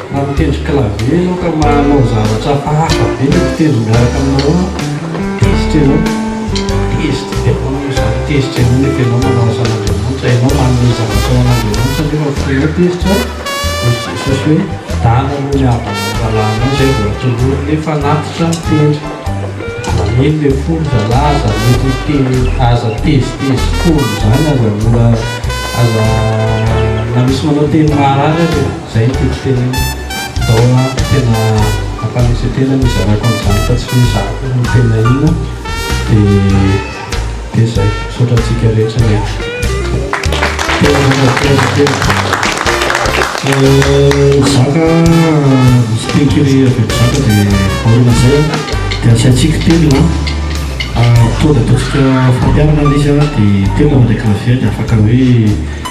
Raha mitendry clavier ianao ka manao zavatra hafa be ny mpitendry miaraka aminao ao, tezitra ianao, tezitra be manao izany, tezitra ianao nefa ianao manao asan'Andriamanitra, ianao manome zavatra ho an'Andriamanitra nefa fonao tezitra, hoy Jesosy hoe, dana aloha ny havanao rahalahinao izay vao atolory ny fanatitra mitendry, aza mino ilay fo ry zalahy, aza mety, aza tezitezitra foana izany, aza mora, aza na misy manao teny maharary aza e. Izay no tiako tenenina. Daholo aby tena ampanesetena ny hizarako an'izany fa tsy mizaka ny tena inona dia dia zay. Misaotra antsika rehetra miangona. Tena mankasitraka kely. Mizaka misy teny kely avy amin'ny zaka dia aoriana zay an dia asaintsika telo na fotoana ataontsika fampiharana ilay izy an dia telo mandray clavier dia afaka hoe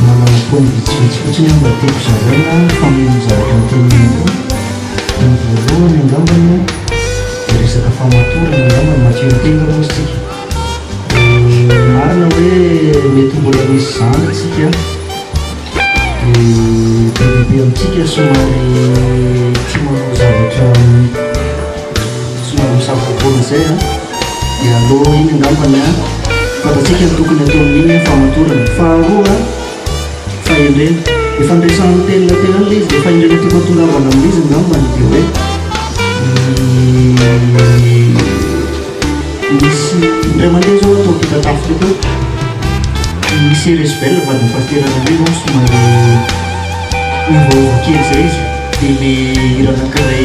Manao points vitsivitsy fotsiny aho mba tiako zaraina fa mihaino ny zavatra noteneninao koa. Ny voalohany angambany dia resaka famatorana angambany, matsilo tena aloha isika. Dia marina hoe mety mbola misy izany isika dia be dia be amintsika somary tsy manao zavatra somary misavorovoro izay an. Dia alou iny angambany an! Fantatsika ny tokony atao amin'iny an! Fahamatoran'ny faharoa an! Fahendrena! Dia fandraisan'ny telina teo ihany ilay izy dia fahendrena tokony tongavana amin'izy angambany dia hoe Misy indray mandeha izao ato ampitatafika ato misy resbel vadin'ny pasitera anankiray izao somary miovaova kely izay izy dia ilay hira anankiray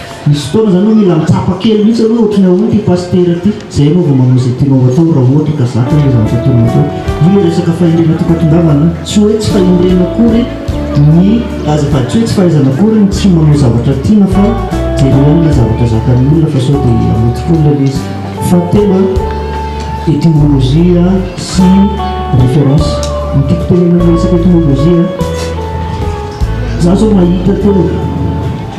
Misy fotoana izany hoe mila mitsapa kely mihitsy aloha ohatry ny ahoana ity pasitera ity, izay ianao vao manao izay tianao hatao raha ohatra ka zaka ilay zavatra tianao hatao. Io ilay resaka fahendrena tiako hatongavana an, tsy hoe tsy fahendrena akory ny aza fa tsy hoe tsy fahaizana akory ny tsy manao zavatra tiana fa jereo ihany ilay zavatra zakan'ny olona fa sao dia hamety foana ilay izy. Fahatelo an, étymologie sy référence. Ny tiako tenenina amin'ny resaka étymologie an, za zao mahita teo,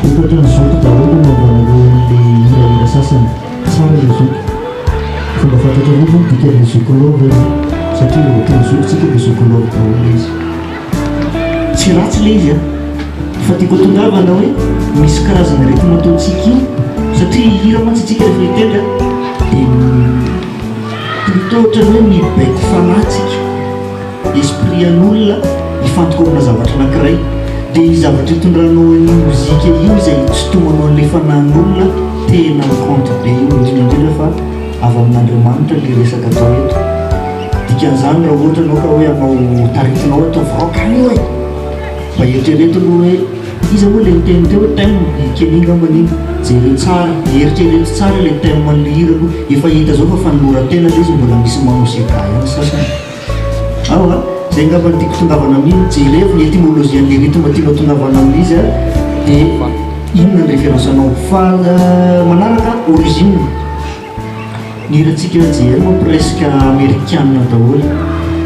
Vokatry ny zoky daholo no andraman'ireo olon'ny hirahira sasany tsara ilay zoky. Fomba fantatra mihitsy ny dikan'ilay zoky love e! Satria raha voataon'ny zokintsika dia zoky love daholo ilay izy. Tsy ratsy ilay izy an! Fa tiako hatongavana hoe misy karazana rythme ataontsika io satria hihira mantsy isika rehefa hitendry an! Dia plutôt ohatran'ny hoe mibaiko fanahy isika. Esprit an'olona hifantoka amina zavatra anankiray dia io zavatra itondranao an'io mozika io izay itsitonanao an'ilay fanahin'olona tena mi-compte be io indrindra indrindra fa avy amin'Andriamanitra ilay resaka atao eto. Dikan'izany raha ohatra ianao ka hoe hanao taritinao hoe ataovy rock any io e! mba eritrereto aloha hoe iza moa ilay niteny teo hoe thème? i Kenny angambany iny, jereo tsara, eritrereto tsara ilay thème an'ilay hira aloha, efa hita izao fa fanoloran-tena ilay izy mbola misy manao sega ihany ny sasany. Ao a, zay angamba no tiako tongavana amin, jereo ny etymologie an'ilay rythme tianao tongavana amin'izy a, de inona ny référence anao? Fa manaraka origine, ny hirantsika JM moa presque amerikana daholo,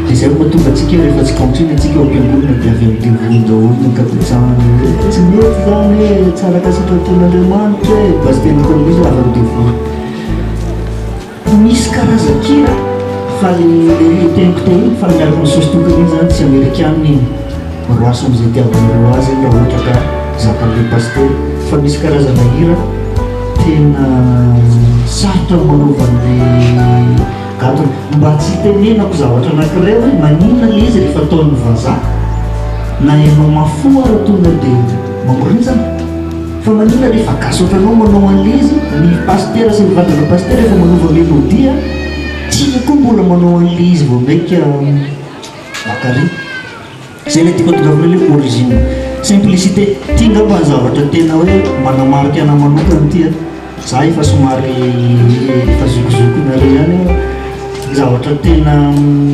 de zay vao tonga antsika rehefa tsy country ny antsika ao am-piangonana de avy amin'ny devoly daholo ny ankabetsahany hoe tsy mety zany e, tsy araka sitrapon'Andriamanitra e, basy teny ataon'izy hoe avy amin'ny devoly. Misy karazan-kira fa le le teniko teo iny fa miaraka amin'ny sosy tokana iny zany tsy amerikana iny roaso am'zay itiavanareo azy iny raha ohatra ka zakan'le pasitera fa misy karazana hira tena sarotra ny manova an'le gadona mba tsy itenenako zavatra anakiray hoe maninona le izy rehefa ataon'ny vazaha na ianao mafy fo ara tonga de mamorinjana Fa maninona re fa gasy otranao manao anle izy, ny pasitera sy ny vadina pasitera efa manova melodie a, tsia koa mbola manao anle izy vao maika bakary. Zay le tiako atongavana le origine, simplicité, ty ngamba zavatra tena hoe manamarika anah manokana ty a. Za efa somary efa zokizokinareo ihany io a. Zavatra tena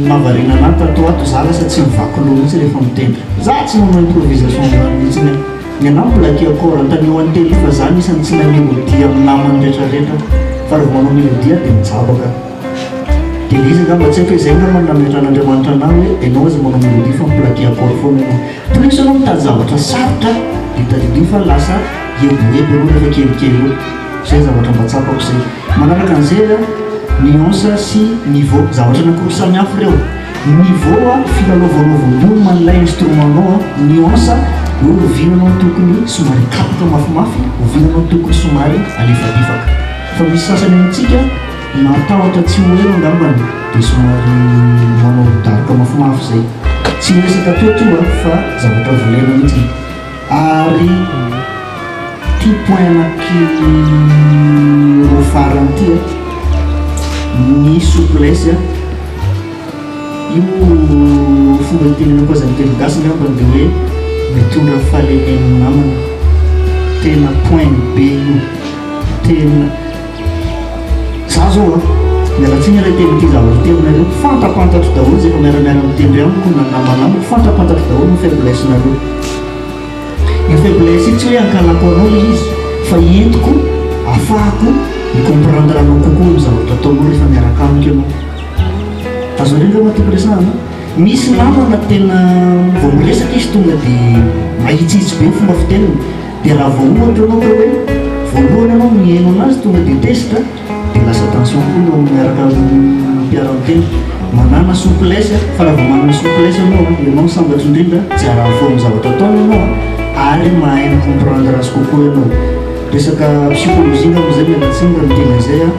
mahavariana anahy tato ho ato za lasa tsy mivaky loha mihitsy rehefa mitendry. Za tsy manao improvisation zany mihitsy ny ahy. Ny anahy mbola key accord antanio antely fa za anisany tsy mahay melodie amin'ny namany retraretra fa raha vao manao melodie aho dia mijabaka. Dia le izy angamba tsy haiko hoe zay angamba no nametrahan'Andriamanitra anahy hoe enao aza manao melodie fa mi-plaquer accord foana enao. Toetra aloha mitady zavatra sarotra dia tadidio fa lasa hebohebo ianao rehefa kelikely eo. Izay zavatra mba tsapako izay. Manaraka an'izay an, nuance sy niveau. Zavatra anankiroa samihafa ireo. Ny niveau an, filalaovanao volume an'ilay instrument-nao an. Nuance, hoe oviana ianao no tokony somary hikapoka mafimafy, oviana ianao no tokony somary halefadefaka. Fa misy sasany amintsika. Mahatahotra tsy ho ela angambany dia somary manao daroka mafimafy izay. Tsy miresaka teo to a fa zavatra volena mihitsy ary ity point anaky roa farany ity a, ny souplesse a, io fomba itenenako azy amin'ny teny gasy angambany dia hoe mitondra fahalemena ny namany, tena point be io, tena. Za zao a, miala tsiny ilay teny ity zavatra ity aminareo, fantapantatro daholo izay efa miaramiara mitendry amiko na ny namana amiko, fantapantatro daholo ny faiblesse nareo. Io faiblesse io tsy hoe ankalako anao ilay izy fa entiko afahako mi comprendre anao kokoa amin'ny zavatra ataonao rehefa miaraka amiko ianao. Azonareo ve ma tokony resahana? Misy namana tena vao miresaka izy tonga dia mahitsihitsy be ny fomba fiteniny, Dia raha vao ohatra ianao ka hoe voalohany ianao no nihaino anazy tonga dia tezitra dia lasa tension koa ny ao amin'ny miaraka mpiara-miteny. Manàna souplesse fa raha vao manana souplesse ianao dia ianao no sambatra indrindra, tsy arary fo amin'ny zavatra ataony ianao ary mahay mi-comprendre azy kokoa ianao. Resaka psychologie angamba izay, miala tsiny raha miteny an'izay aho.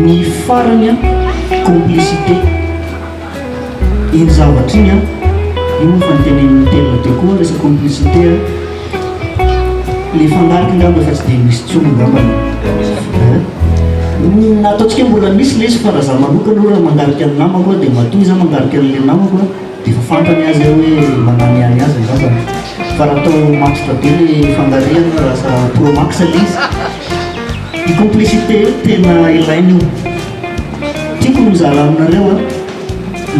Ny farany an, complicité. Iny zavatra iny an, iny moa efa notenenin'i Mitterr teo koa, resaka complicité an, le fanarik ngamba efa tsy dia misy intsony ngamba an, ny ataontsika hoe mbola misy lesy fa raha za manokana aloha raha mangarika ny namako an, dia matoa izaho mangarika an'ilay namako an, dia efa fantany aza hoe manany ahy azy angamba an, fa raha atao matotra be le fangarihana an, raha asa pro max le izy, io complicité io tena ilaina io. Tiako mizara aminareo an,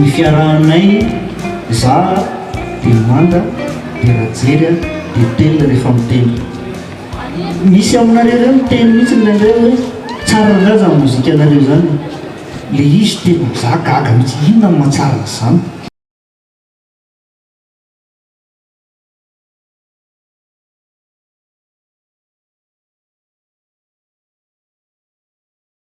ny fiarahanay za dia manda dia rajery an dia tel rehefa miteny. Misy aminareo reo miteny mihitsy indraindray hoe tsara angaha zany mozika nareo zany. Le izy tena za gaga mihitsy inona no mahatsara an'zany.